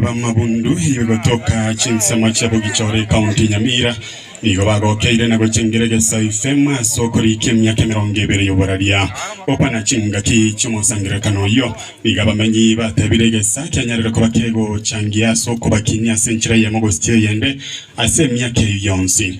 b'amabundu gotoka chinsemo chia Bogichore ekaonti ya Nyamira nigo bagokeire na gochengera egesaai fm ase okoriika emiaka emerongo ebere y'oboraria okwana chingaki chi'omosangererekano oyio. Nigo abamenyi batebire egesaai kianyarire koba kegochangia ase okobakinia ase enchera eyemo gose eyende ase emiaka eyio yonsi.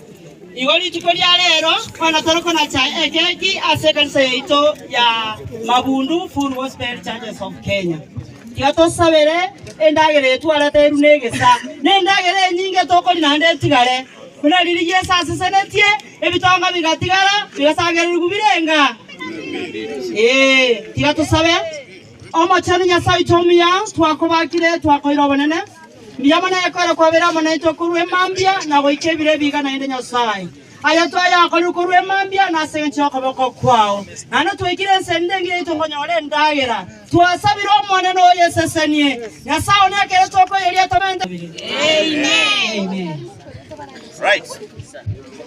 Igo rituko ria reero bono tore konacha ekeki ase ekanisa yaito ya Mabundu Full Gospel Churches of Kenya. Tiga tosabere endagera eye twarete eru na egesa, na endagera enyinge tokori naende etigare, buna riria Yeso asesenetie ebitonga bigatigara bigasagererigwa birenga. Ee, tiga tosabe. Omochenu Nyasae oito omuya, twakobakire, twakoira obonene, mbuya mono egekoera kwabeire amo naintwe korwa emambia na goika ebiro ebiga, naende Nyasae, ayio twayakorire korwa emambia na ase engencho y'okoboko kwao, naende twaikire ense ende engiya yaito nkonyora endagera twasabire Omonene oyesesenie, Nyasae one ekero tokoyeria tomente. Amen.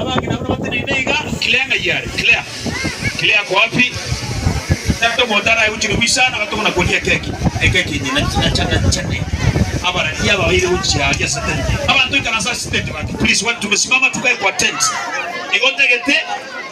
Abang'ina abwo nabateneine iga, Claire ng'ai are? Claire? Claire ako wapi? Tata omonto araegochire goisana bato buna koria keki, ekeki enye na na cha na cha ne abarani aba baire gochia aria ase tent. Abanto ikaransa ase tent bati, Please, watu tumesimama tukae kwa tent. Igo ntagete.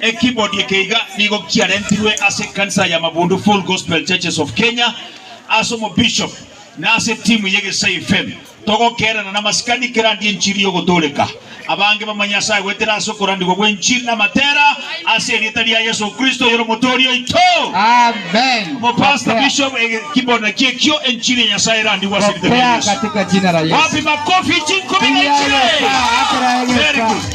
Ekibodi eke iga nigo kiarentirwe ase ekanisa ya Mabundu Full Gospel Churches of Kenya ase omobishop na ase etimu ya Egesai FM. Togokeerana namasikani kerandi enchiri y'ogotooreka abange bamanye Nyasae goetera ase okorandigwa gw'enchiri namatera ase erieta ria Yeso Kristo oyore Omotooria oito. Amen. Omopastor Bishop Ege Kibodi naki ekio, enchiri ya Nyasae erandigwe ase erieta ria Pokea Yeso. katika jina la Yesu. Wapi makofi chinkumi na Pigia Yesu inchire? makofi. Very good.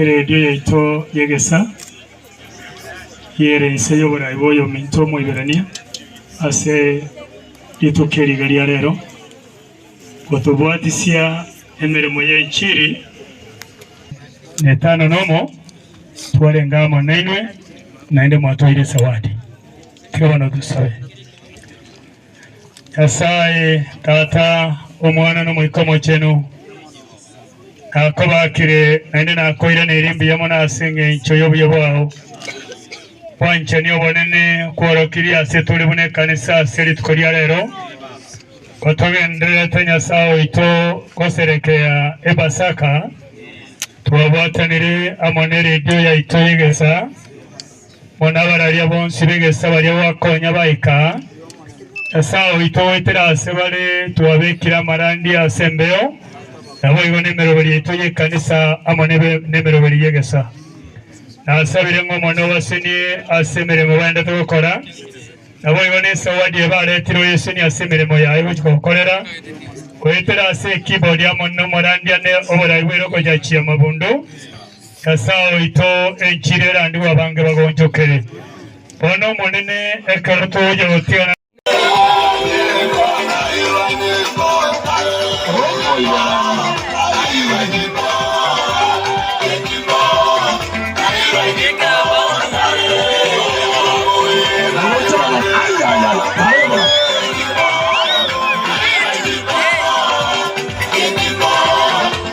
Eredio yaito y'egesaa y'ere inse y'oboraai bw'oyominto Omoiberania ase rituko eri igari ya reero, gotobwatisia emeremo y'enchiri. Na etano na omo twarenge amo nainwe, naende mwatoire esawadi. Tiga bono tosabe. Nyasae Tata, Omwana, na Omoika Omochenu, nakobaakire, naende nakoiraneria mbuya mono ase engencho y'obuya bwao. Bwanchani obonene kworokirie ase tore buna ekanisa ase rituko ria rero, gotogendererete Nyasae oito goserekea Epasaka twabwatanire amo neredio yaito y'egesa, Bono abararia bonsi b'egesesa baria gwakonya baika aa, Nyasae oito goetera ase bare twabekire amarandi ase embeo, naboigo nemeroberi yaito y'ekanisa amo nebe nemeroberi y'egesa. Nasabire ng'a Omonene obasenie ase emeremo baendete gokora, naboigo nesawadi eye baretire oyesenie ase emeremo yaye gochi gokorera, goetera ase ekibodi amo nomorandi ane oborai bw'eroko ya chiamabundu, Nyasae oito, enchiri erandigwe abange bagonchokere, bono Omonene, ekero togochia gotigana na.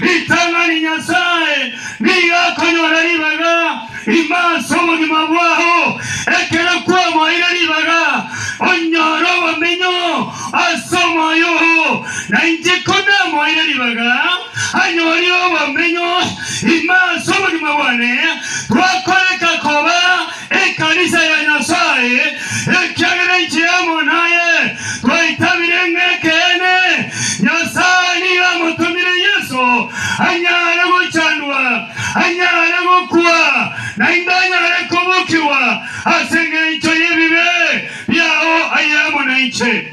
Ritang'ani Nyasae nigo akonyora ribaga ime ase obogima bwao. Ekero kwamoeire ribaga, onyore obomenyo ase omoyo oo. Na inche ko namoeire ribaga, anyorire obomenyo ime ase obogima bwane, twakoreka koba Ekanisa ya Nyasae, ekiagera inche amo naye twaitabire ng'a ekeene Nyasae nigo amotomire Yeso anyare gochandwa, anyare gokwa, naende anyare kobokigwa as'engencho y'ebibe biao aye amo nainche.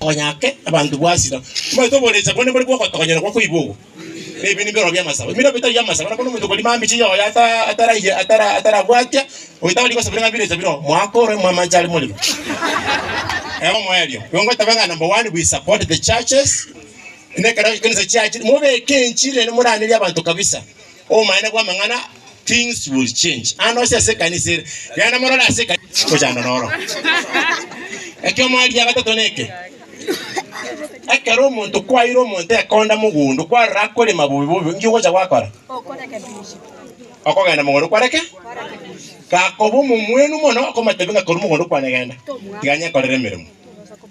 Konya ake abanto bwasira. Tibaete oborecha bone bore bw'ogotogonyera gwa koiba obo, na ebibe nibiroro bi'amasabo. Ebiro bitari amasabo na buna omonto okorima amiche y'oyo ataraiye atarabwatia, oyo tari gosaba ng'a birecha bire oo, mwaka ore mwamanche are morero. Ego moerio. Igo ngotabe ng'a number one we support the churches, na ekero ekerecha chiachire mobeke enchiri ere moranerie abanto kabisa. Obomanene bw'amang'ana things will change ande onsi ase ekanisa ere. Genda morore ase ekanisa gochanda noro. Ekioma eri gia gatato neke, ekero omonto kwaire omonto ekonda mogondo kwarora akorema bobe bobe inki ogocha gwakora? Okogenda mogondo kware ki? Gakoba omomwenu mono okomotebi ng'a korwa mogondo kwane genda, tiga nyekorere emeremo.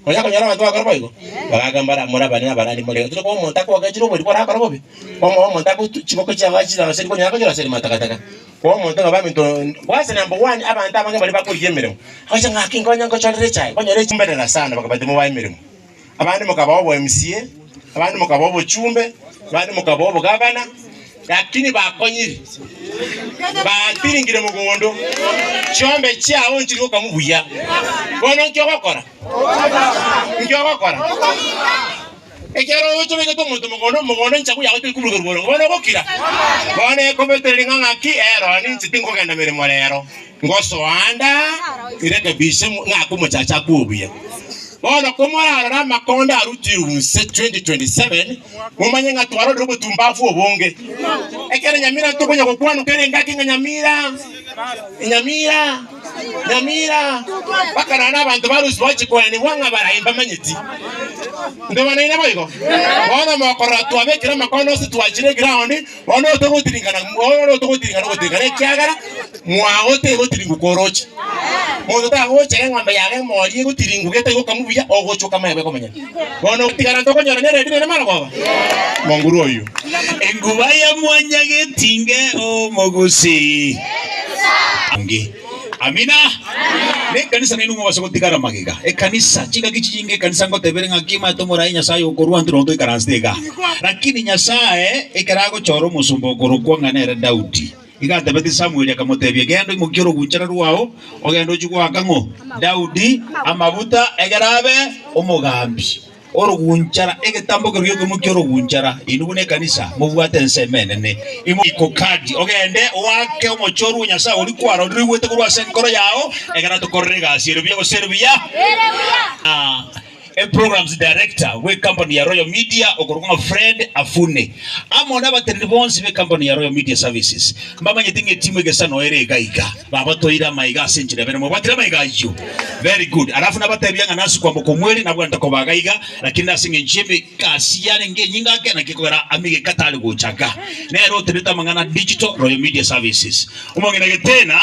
Onya konyora abanto bagokora boigo, bagaaka mbare amo morabane nabarandi more. Otari koba omonto akogokechire oborimo borakore bobe, omoe omonto ago tu chiboko chiabo achiire aase riku onyare konyora aseri matakataka. Koba omonto ng'a baminto bwase number one abanto abange baria bakorigia emeremo. Agocha ng'a naki nkonye nkochorere echae, konyora echi mberera sana bakabati mobae emeremo. Abande mokaba obo MCA, abande mokaba obochumbe, abande mokaba obogavana. Lakini bakonyiri batiringire mogondo, chiombe chiao nchiri gokamu buya. Bono inki ogokora? Inki ogokora? Ekero oyoche oigete omonto mogondo, mogondo enchagu yao tori koburuka ruboro, bono ogokira? Bono ekobetereri ng'a ng'aki, ero ninche tinkogenda meremo rero. Ngosoa anda irekebishe mo- ng'ake omochacha akwe obuya. Bono komorarore amakondo arutirwe inse 2027, momanye ng'a twarorire obotumbafu obonge. Ekero nyamira tokonya gokwanwa kera engaki ng'a nyamira, nyamira, nyamira, mpaka naende abanto ba Rusizi bagochi koenigwa ng'a barayi mbamanyeti. Ntoba nainwe boigo? Bono mokorora twabekire amakondo inse twachire eground, Bono otogotirikana, bono otogotirikana ogotirikana, ekiagera mwao tegotiringu koroche. Monto tagochera eng'ombe yabo emori egotiringu gete egokamwa buya, ogochwa okamae bwe komanya. Bono ogotigara ntokonyora nere ebi nere marogoba? Monguru oyio. Enguba ya mwanyagetinge omogusii. Nge. Amina. Ne ekanisa nainwe mobase gotigara magega. Ekanisa, chingaki chinyinge ekanisa ngotebere ng'aki omanyete omoraai Nyasaye okorua intwe nonya toikaransete iga. Lakini Nyasaye ekero agochora omosomba okorokwa ng'a nere Daudi, iga atebetie Samueli akamotebia, Genda oimokie orogunchara rwao, ogende ochie goaka ng'o? Daudi amaguta, egera abe omogambi. Orogunchara, egetambo keru gi'okoimokia orogunchara. Inwe buna ekanisa mobwate ensemo enene, imo iko kadi, ogende oake omochie orue Nyasae oria kwaroriruigwete korwa ase enkoro yao, ekero atokorera egasi ere buya gose ere buya. Ah, Eprograms Director bw'ecampany ya Royal Media okorokwa ng'a Fred Afune, amo nabateneni bonsi b'ecampany ya Royal Media Services, mbamanyete ng'a etimu egesano ere iga iga. Babatoire amaiga ase enchera ibere. Mwabuatire amaiga ayio? Very good. Alafu nabatebia ng'a nase okwamboka omweri nabwate koba gaiga, lakini nase engencho y'emegasi yarenge enyinge ake, naki kogera amegeka tari gocha iga. Nere otenete amang'ana a Digital Royal Media Services. Omong'ina Getena,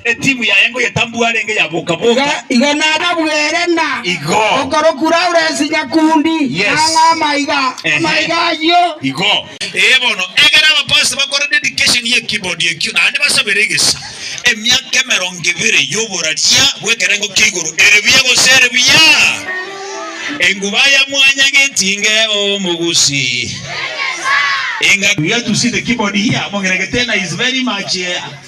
etimu yaye ngoyetambua arenge ya boka boka. Igo nababuere ng'a Igo. okorokwa Lawrence Nyakundi Yes. nang'aa amaiga. Ehe. Amaiga ayio. Igo. Ee bono, egera abapasta bakore dedication ye keyboard ekio naende basabere egesa. Emiaka emerongo ebere y'oboraria bw'ekerengo kia igoro ere buya gose ere buya? Enguba ya mwanya getinge omogusi enga. We have to see the keyboard here, Mong'ina Getena is very much here.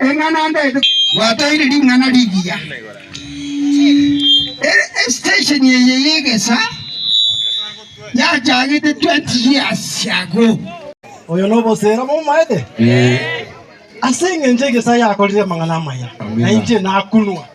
Eng'ana ndende gwatoire ring'ana rigiya. Ere estation eye y'egesa yachagete 20 years ago. Oyo nobosera momaete? Ase engencho egesa yakorire amang'ana amaya, na inche nakunwa.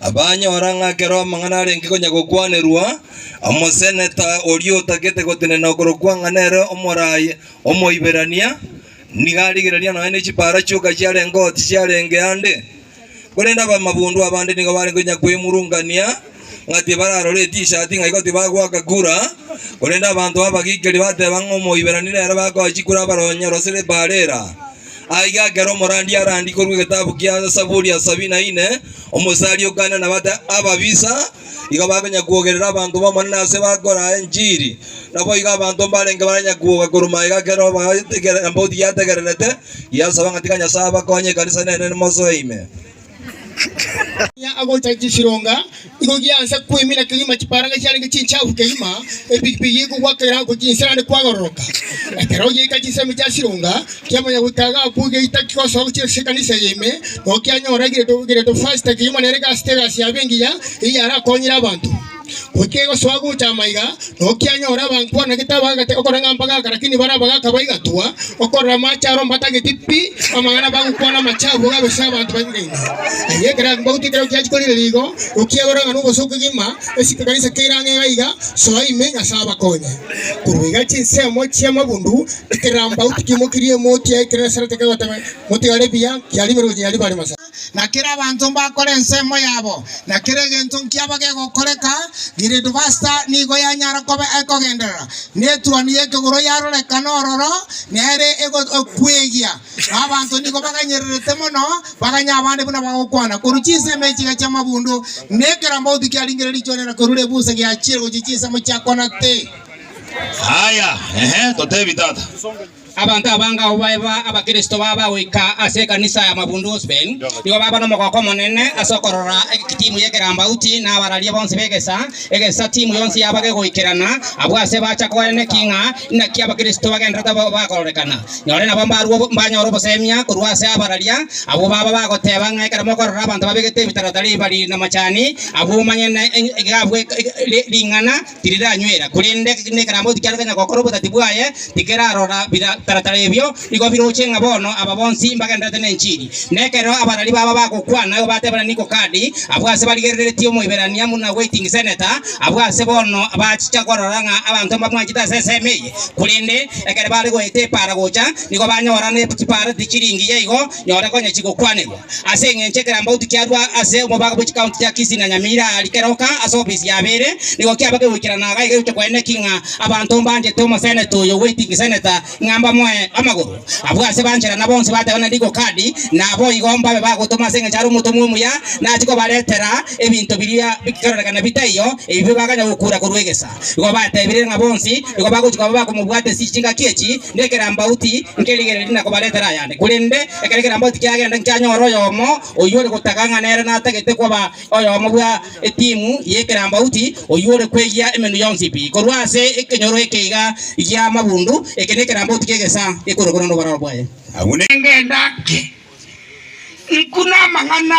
Abanyora ng'a ekero amang'ana arenge konya gokwanerwa, omoseneta oria otagete gotenena okorokwa ng'a nere omoraai Omoiberania, nigo arigererire nonya ne chipaara chioka chiarenge oo tichiarenge ande. Korende abamabondo abande nigo barenge konya kwemurungania ng'a tibararore etisati ng'a igo tibagoaka kura, korende abanto abagikeri bateba ng'a Omoiberania nere bagoachia kura abaronye orosire epaara era. Aiga ekero omorandi arandie korwa egetabu kia Zaburi ya sabini na ine, omosari okaanire na bata ababisa igo bakonyara kwogerera abanto b'Omonene ase bakoraa enchiri. Naboigo abanto mbarenge baranyare kwoga korwa magega ekero baetegere embauti yategererete, yasaba ng'a tika Nyasae abakonye ekanisa enene mosoe ime. Onye agocha chisironga, igo giansa kwemina kegima chiparanga chiarenge chinchafu kegima, epigipigi ekogwa kerango chinsira ande kwagororoka. Ekero oyeika chinsemo chia sironga kia monyagotaaga agwo geita kigosoa gochia ase ekanisa eye ime, noo kianyora gireto gireto fasta kegima nere gasete egasi yabe engiya, eyio arakonyire abanto. Goika egosoa gocha amaiga, nokianyora abanto bana gete abagagete okora ng'a mbagaka, lakini bare abagaka baigatwa okorora amache aro mbatageti pi, amang'ana bagokwana amache abo gabe ase abanto banyinga inga. Aye ekerango mbagotwe ekero kiachia korigereria igo, nokiagora ng'a nobosa okogima ase ekekanisa keire ang'e iga iga, soa ime Nyasae abakonye. Korwa iga chinsemo chi'amabundu ekerambau tikimokirie emooti yaye, ekerero Esara tekegoteba, Motigare buya, kiarimerwe gochia nyaribare, Masa. na kera abanto mbakore ensemo yabo, na kera egento nkiabo gegokoreka, Gilead Basta nigo yanyara koba ekogenderera, na etuoni y'ekegoro yaroreka nororo, na ere egokwegia, na abanto nigo baganyererete mono, baganya abande buna bagokwana korwa chinsemo echiga chi'amabundu, na ekerambauti kiaringire richwanera korwa rebusa giachiire gochia chinsemo chiakwanete. Aya, ehe, totebi tata. Abanto abange abwo baeba Abakristo baba goika ase ekanisa ya mabundu Osben, nigo baba nomogooko omonene ase okorora timu y'ekerambauti na abararia bonsi b'egesa egesa. Timu yonsi yaba gegoikerana abwo ase bacha koeneki ng'a inaki Abakristo bagenderete bakororekana. Nyore nabo mbarwo mbanyore obosemia korwa ase abararia abwo baba bagoteba ng'a ekero mokorora abanto babegete ebitaratara ebibari namachani abwo omanye ng'a iga abwo ring'ana tiriranywera, korende nekerambe tikiarenge onye gokora obotati bwaye, tikerarora bitaratara ebio, nigo biroche ng'a bono aba bonsi mbagendererete nenchiri. Na ekero abarari baba bagokwana, igo batebana Niko kadi, abwo ase barigereretie Omoiberania buna Waiting Senator, abwo ase bono bachicha korora ng'a abanto mbamwanchete ase ensemo eye. Korende ekero bare goeta epaara gocha, nigo banyora ne chipaareti chiringiya igo, Nyora konya chigokwanerwa ase engencho ekerambauti kiarwa ase omobaga bwe chikaunti chia Kisii na Nyamira aria keroka ase ofisi ya Bere nigo kiaba kegoikerana iga egegocha kwenene ki ng'a abanto mbanchete omoseneta oyo waiting senator ng'a mbamoe amagoro. Abwo ase banchera na bonsi bateba na rigo kadi na boigo mbabe bagotoma ase engencho are omotomwa omuya nachi kobaretera ebinto biria bikerorekana bitaiyo ebibe baganya gokura korwa egesa. Igo batebire ng'a bonsi nigo bagochia koba bakomobwata ase chingaki echi, na ekerambauti nkerigereria na kobaretera ayande. Korende ekero ekerambauti kiagenda nkianyora oyomo oyio ore gotaga ng'a nere natagete koba oyomo bwa etimu y'ekerambauti, oyio ore kweyia emenwa yonsi pi korwa ase ekenyoro eke iga gi'amabundu. Eke nekerambauti ki'egesaa gekorokwa noboraro bwaye. Abwo ne. Ngenda ng'ake, Nku namang'ana.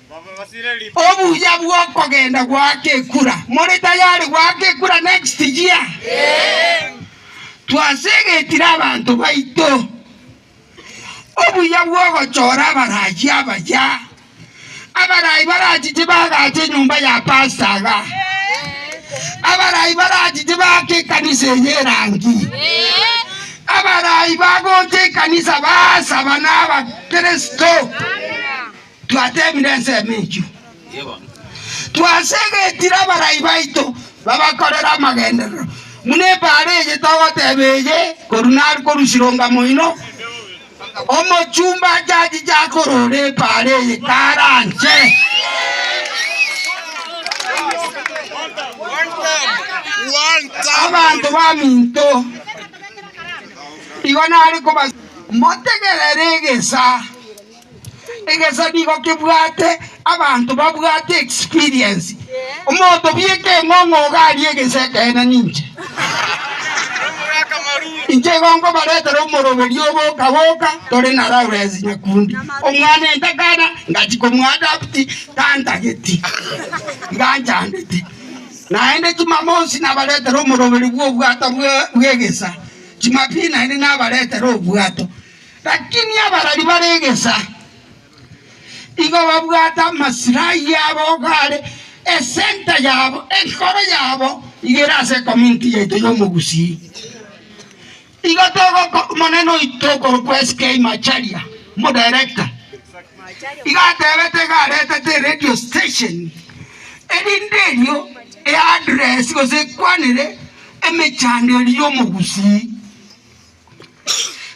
Obuya bw'okogenda goaka ekura. More tayari goaka ekura next year? Twasegetire abanto baito. Obuya bw'ogochora abarachi abaya. Abarayi barachiche bagache enyomba ya pastor iga. Abarayi barachiche baake ekanisa eye erangi. Abarayi bagocha ekanisa basaba nabakristo. Twateemire ensemo eyio, twasegetire abarai baito babakorere amagenderero, buna ebaare eye togoteeba eye korwa nare korusirunga moino. Omochumba achachiche akorora ebaare eye karanche. Abanto baminto, igo nare koba, motegerere egesa Egesabi igo kebwate abanto babwate experience. Omonto obieka eng'ong'o iga arie egese ekeene ninche. Inche igo nkobaretera omoroberio oboka boka tore na Lawrence Nyakundi. Omwana entakana ngachi komoadapt tantageti iga anchandete. Naende chimamosi nabaretera omoroberio bw'obwato bwe- bw'egesa. Jumapili naende nabaretera obwato. Lakini abarari bare egesa igo babwate amasira ayio abo are esenta yabo, enkoro yabo igo ere ase ecominity yaito y'omogusii. Igo togoko omonene oito okorokwa SK Macharia, omodirector, igo atebete iga aretete eredio station erinde erio e address gose ekwanere emechando eria y'omogusii.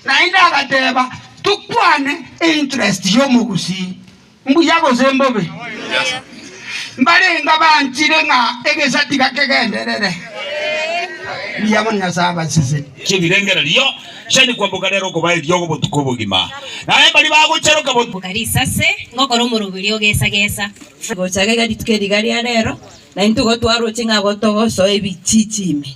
Naende agateba, Tokwane einterest y'omogusii, mbuya gose mbobe? Mbarenga banchire ng'a egesa tiga kegenderere. Mbuya mono Nyasae abaseseni. Chibirengereri iyo chiane kwamboka rero okobaa eriogo botuko obogima, na embari bagocharoka botuko. Mboka risase, ngokora omoroberio ogesagesa. Gochaka iga rituko eri iga ria rero, naintwe igo twaroche ng'a abwo togosoa ebichichi ime.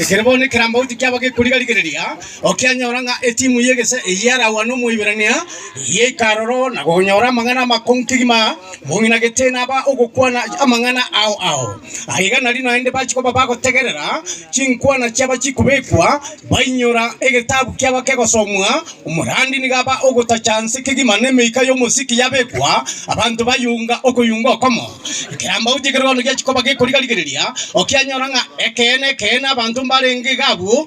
Ekero bono ekerambauti kiabo gekoriga rigereria, okianyora ng'a etimu y'egese eye yaragwa n'Omoiberania yaika aroro na konyora amang'ana amakong'u kegima, mong'ina gete naba ogokwana amang'ana ao ao. Aiga nari naende bachia koba bagotegerera chinkwana chiabo chikobekwa, bainyora egetabu kiabo kegosomwa, Omorandi nigo aba ogotacha nse kegima nemeika y'omosiki yabekwa, abanto bayunga okoyunga okomo. Ekeambao gi'ekerogono giachia koba gekoriga-rigereria, okianyora ng'a ekeene ekeene abanto mbarenge iga abwo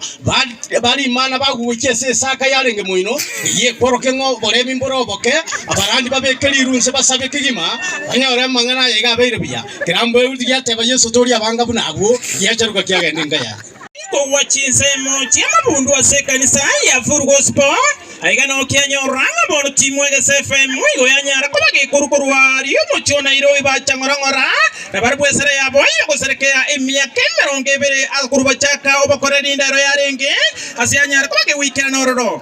ba rimana bagogochia ase esaka yarenge moino, eyio ekworokia ng'a oboremi mbore oboke. Abarandi babeke riiru nse basabe kegima banyore amang'ana aya iga abeire buya. Ekerambo Ehudu giateba Yeso, Tori abanga buna abwo, giacharuka kiagenda enka yaye. Kogwa chinsemo chi'amabundu ase ekanisa ya Furgospo, aiga nokianyorora ng'a bono timwe egesa FM igo yanyara koba gekoru korwa aria omochie o Nairobi bacha ng'ora ng'ora nabarabwo esara yabo y'ogoserekea emiaka emerongo ebere akorwa bachaka obokora erinde ero yarenge ase yanyara koba gegoikera nororo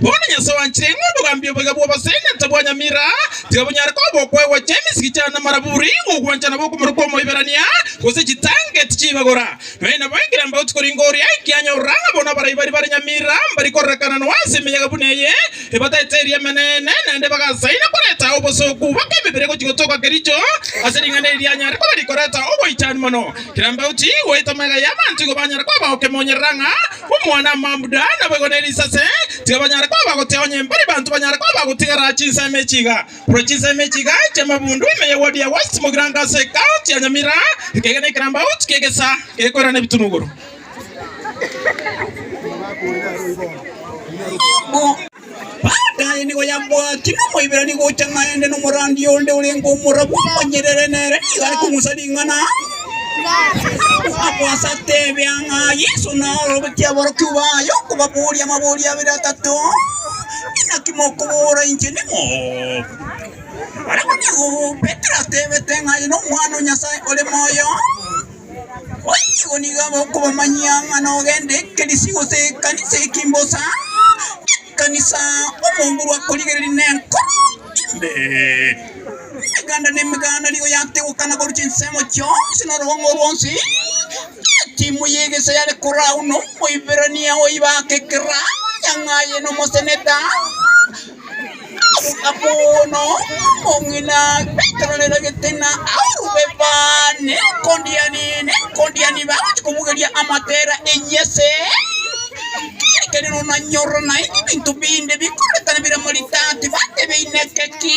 Bono Nyasae oanchire ng'a obogambi oboiga bw'oboseene tabwanyamira, tiga bonyare koba okwegwa chia emisiki chane namaraburi, gokwanchana bokomoro kw'Omoiberania, gose chitangeti chi'ibagora. Nonya nabaikire mbagoti korenge oria ekianyorora ng'a bono abarai baria bare nyamira mbari kororekana noa ase emeyaga buna eye, ebataete erio Emeneene, naende bagasaina koreta ao obosooku bake emebere gochia gotoka Kericho, ase ring'ana eri rianyare koba rikoreta ogoichani mono. Kera mbagoti goeta magega y'abanto igo banyare koba gokemonyerera ng'a Omwana-mambura naboigo ne risase, tiga banyare koba bagotia onye mbari banto banyare koba bagotigara chinsemo echi iga. Korwa chinsemo echi iga chi'amabundu ime ye wodi ya West mogirango ase ecounty ya Nyamira, ekegena ekerambauti ki'egesaa gekoirana ebitunu igoro. Baada aye nigo yabwati nomoiberani gocha naende nomorandia onde orenge omorabu omonyerere, nere nigo are kong'usa ring'ana akwasa atebe ang'a Yeso naorobetie aborokigwa baye okobaboria amabori abere atato, Inaki mokobora inche nimo? Barabwo nigo Petero atebete ng'a aye nomwana o Nyasaye ore moyo. Boigo nigo abokobamanyia ng'a nogende ekerisi gose ekanisa ekimbosa ekanisa omonguru akorigereria nenkoro imbe. Emeganda nemeganda nigo yategweka na korwa chinsemo chionsi na orogong'o rwonsi. Etimu y'egesa yare korwa agwo na omoiberania oibake ekeraa, nyang'aye na omoseneta. Stefano, omong'ina getororero getena, aorwe baane ekondiani nekondiani bagochia komogeria amatera e Yese. Ekeene nonanyora naende ebinto binde bikorekana bire morita, tibatebeine keki.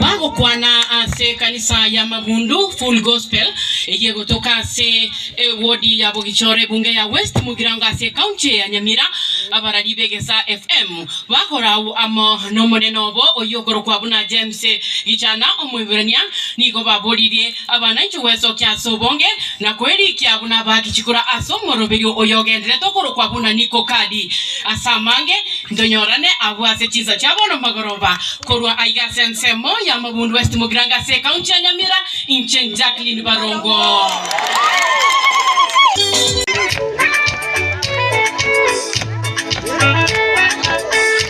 Bagokwana ase ekanisa ya Magundu Full Gospel eyio egotoka ase ewodi ya Bogichoro ebunge ya West Mugirango ase ecounty ya Nyamira. Abarari b'Egesa FM bagokora agwo amo nomonene obo oyio okorokwa buna James Gichana Omoiborania nigo baboririe Abana inche gwesokia ase obonge, na kwerikia buna abaaki chikura ase omoroberio oyogenderete okorokwa buna Nikokadi. Ase amange, ntonyorane agwo ase chinsa chia bono magoroba, korwa aiga ase ensemo y'amabundu West Mogiranga ase ekaunti ya Nyamira, inche Jacqueline Barongo.